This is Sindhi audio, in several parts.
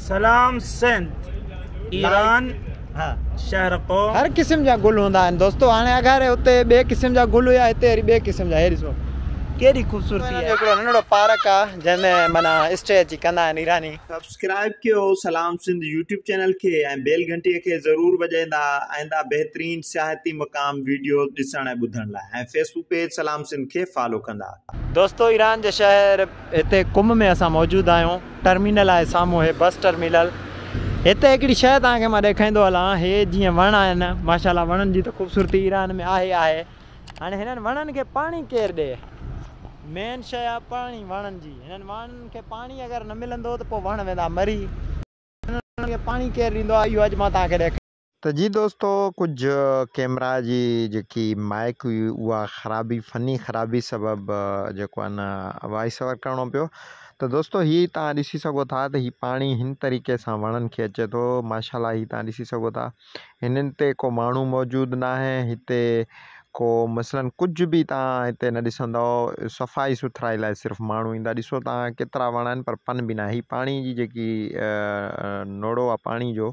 سلام سنڌ ايران شهر قوم. هر قسم جا گل هوندا آهن دوستو هاڻي اگهاري اتي ٻئي قسم جا گل هيا هتي وري ٻئي قسم جا هي ڏسو ڪيڏي خوبصورتي آهي. هڪڙو ننڍڙو پارڪ آ جنهن ۾ معنيٰ اسٽي اچي ڪندا آهن ايراني. سبسڪرائب ڪيو سلام سنڌ يوٽيوب چينل کي ۽ بيل گهنٽي کي ضرور وڄائيندا آئنده بهترين سياحتي مقام ويڊيوز ڏسڻ ۽ ٻڌڻ لاء ۽ فيسبوڪ پيج سلام سنڌ کي فالو ڪندا. دوستو ايران جي شهر. هتي قم ۾ اسان موجود آهيون ٽرمينل آهي سامهون هي بس ٽرمينل هتي هڪڙي شئي توهان کي مان ڏيکائيندو هلان هي جيئن وڻ آهن ماشاءالله وڻن جي ته خوبصورتي ايران ۾ آهي آهي هاڻي هنن وڻن کي پاڻي ڪير ڏي مين شئي آهي پاڻي وڻن جي هنن وڻن کي پاڻي اگر نه ملندو ته پوء وڻ ويندا مري هنن کي پاڻي ڪير ڏيندو آهي اهو اڄ مان توهان کي ڏيکاريان ته جي دوستو ڪجهه ڪيمرا جي جيڪي مائيڪ هئي اها خرابي فني خرابي سبب جيڪو آهي نه وائس اوور ڪرڻو پيو ته دوستو هي تان ڏسي سگهو ٿا ته هي پاڻي هن طريقي سان وڻن کي اچي ٿو ماشاءالله هي تان ڏسي سگهو ٿا هنن تي ڪو ماڻهو موجود نه آهي هتي ڪو مثلا ڪجهه به تان هتي نه ڏسندو صفائي سٿرائي لاء صرف ماڻهو ايندا ڏسو تان ڪيترا وڻا آهن پر پن به نه آهي هي پاڻي جي جيڪي نوڙو آهي پاڻي جو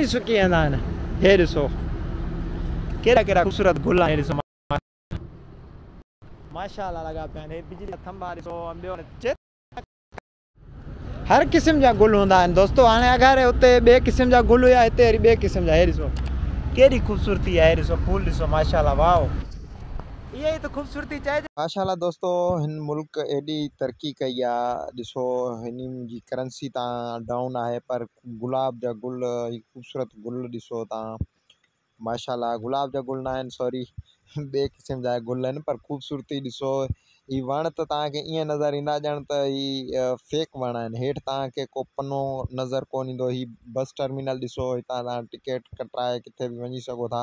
پاڻي سڪي ويندا آهن هي ڏسو ڪهڙا ڪهڙا خوبصورت گل آهن هي ڏسو ماشاءالله لڳا پيا آهن هي بجلي جا ٿنڀا ڏسو ۽ ٻيو هاڻي هر قسم جا گل هوندا آهن دوستو هاڻي اگهاري اتي ٻئي قسم جا گل هيا هتي وري ٻئي قسم جا هي ڏسو ڪهڙي خوبصورتي آهي هي ڏسو ڦول ڏسو ماشاءالله واو اها ئي ته خوبصورتي چئجي ماشاءالله دوستو هن ملڪ ايڏي ترقي ڪئي آهي ڏسو هنن جي ڪرنسي تان ڊائون آهي پر گلاب جا گل هي خوبصورت گل ڏسو تان ماشاءالله گلاب جا گل ناهن سوري ٻي قسم جا گل آهن پر خوبصورتي ڏسو هي وڻ ته تانکي ايئن نظر ايندا ڄڻ ته هي فيڪ وڻ آهن هيٺ تانکي ڪو پنو نظر ڪون ايندو هي بس ٽرمينل ڏسو هتان تان ٽڪيٽ ڪٽرائي ڪٿي به وڃي سگهو ٿا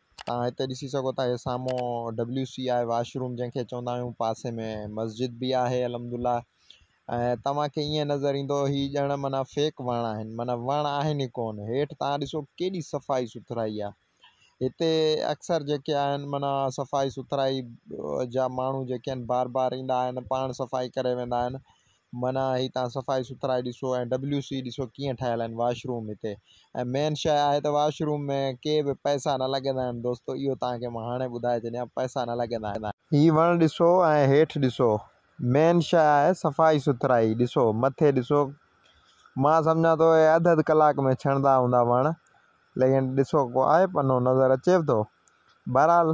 توهان هتي ڏسي سگهو ٿا هي سامهون ڊبليو سي آء واش روم جنهن کي چوندا آهيون پاسي ۾ مسجد به آهي الحمدالله ۽ توهان کي ائين نظر ايندو هي ڄڻ معنيٰ فيڪ وڻ آهن معنيٰ وڻ آهن ئي ڪون هيٺ توهان ڏسو ڪيڏي صفائي سٿرائي آهي هتي اڪثر جيڪي آهن معنيٰ صفائي سٿرائي جا ماڻهو جيڪي آهن بار بار ايندا آهن پاڻ صفائي ڪري ويندا آهن معنيٰ هي تان صفائي سٿرائي ڏسو ۽ ڊبليو سي ڏسو ڪيئن ٺهيل آهن واش روم هتي ۽ مين شيء آهي ته واش روم ۾ ڪي به پئسا نه لڳندا آهن دوستو اهو توهان کي مان هاڻي ٻڌائي ڇڏيان پئسا نه لڳندا آهن. هي وڻ ڏسو ۽ هيٺ ڏسو مين شيء آهي صفائي سٿرائي ڏسو مٿي ڏسو مان سمجهان ٿو هي اڌ اڌ ڪلاڪ ۾ ڇڻندا هوندا وڻ ليڪن ڏسو ڪو آهي پنو نظر اچيو ٿو بهرحال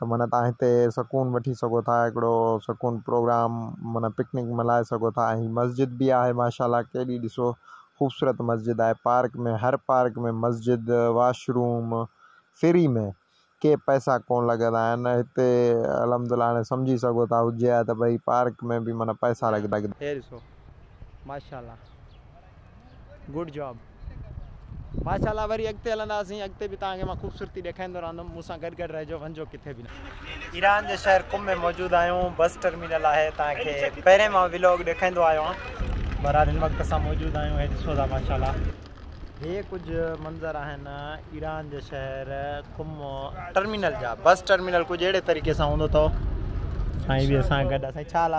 ته معنيٰ تهان هتي سڪون وٺي سگهو ٿا هڪڙو سڪون پروگرام معنيٰ پڪنڪ ملهائي سگهو ٿا ۽ هي مسجد به آهي ماشاءالله ڪيڏي ڏسو خوبصورت مسجد آهي پارڪ ۾ هر پارڪ ۾ مسجد واش روم فري ۾ ڪي پئسا ڪون لڳندا آهن هتي الحمدالله هاڻي سمجهي سگهو ٿا هجي ها ته ڀئي پارڪ ۾ به معنيٰ پئسا لڳندا. هي ڏسو ماشاءالله. گوڊ جاب ماشا الله وري اڳتي هلنداسين اڳتي به توهان کي مان خوبصورتي ڏيکاريندو رهندم مون سان گڏ گڏ رهجو وڃجو ڪٿي به نه ايران جي شهر قم ۾ موجود آهيون بس ٽرمينل آهي تان کي پهرين مان ولاگ ڏيکائيندو آيو آهيان بهرحال هن وقت اسان موجود آهيون هي ڏسو ٿا ماشاءالله هي ڪجهه منظر آهن ايران جي شهر قم ٽرمينل جا بس ٽرمينل ڪجهه اهڙي طريقي سان هوندو اٿو سائين به اسان گڏ سائين ڇا حال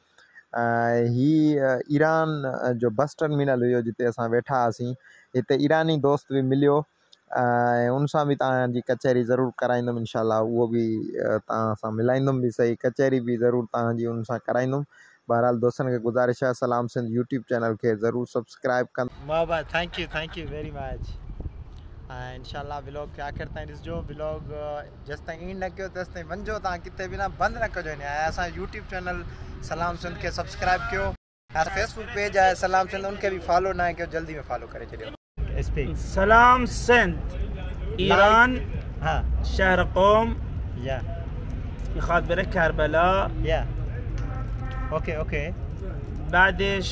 هي ايران جو بس ٽرمينل هيو جتي اسان ويٺا هئاسين هتي ايراني دوست به مليو ۽ ان سان به توهان جي ڪچهري ضرور ڪرائيندم انشاء الله اهو به توهان سان ملائيندم به سهي ڪچهري به ضرور توهان جي ان سان ڪرائيندم بهرحال دوستن کي گذارش آهي سلام سنڌ يوٽيوب چينل کي ضرور سبسڪرائيب سبسڪرائب ڪندا. محبت thank you thank you very much ۽ انشاء الله بلاگ کي آخر تائين ڏسجو بلاگ جيستائين اينڊ نه ڪيو تيستائين وڃجو تان ڪٿي به نه بند نه ڪجو ھن ۽ اسان جو يوٽيوب چينل سلام سنڌ کي سبسڪرائب ڪيو ۽ فيسبوڪ پيج آھي سلام سنڌ ان کي به فالو ناھي ڪيو جلدي ۾ فالو ڪري ڇڏيو اسپيڪ سلام سنڌ ايران ھا شھر قوم يا خاطر ڪربلا يا اوڪي اوڪي بعدش.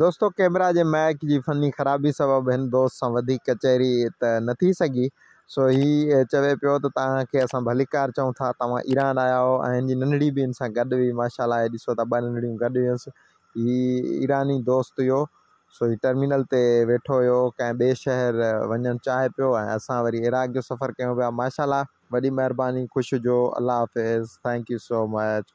دوستو ڪيمرا جي مائيڪ جي فني خرابي سبب هن دوست سان وڌيڪ ڪچهري ته نه ٿي سگهي سو هي چوي پيو ته توهان کي اسان ڀليڪار چئون ٿا توهان ايران آيا هئو ۽ هن جي ننڙي به هن سان گڏ هئي ماشا الله هي ڏسو ٿا ٻه ننڙيون گڏ هيونس هي ايراني دوست هيو سو هي ٽرمينل تي ويٺو هيو ڪنهن ٻئي شهر وڃڻ چاهي پيو ۽ اسان وري عراق جو سفر ڪيون پيا ماشا الله وڏي مهرباني خوش هجو الله حافظ ٿينڪ يو سو مچ.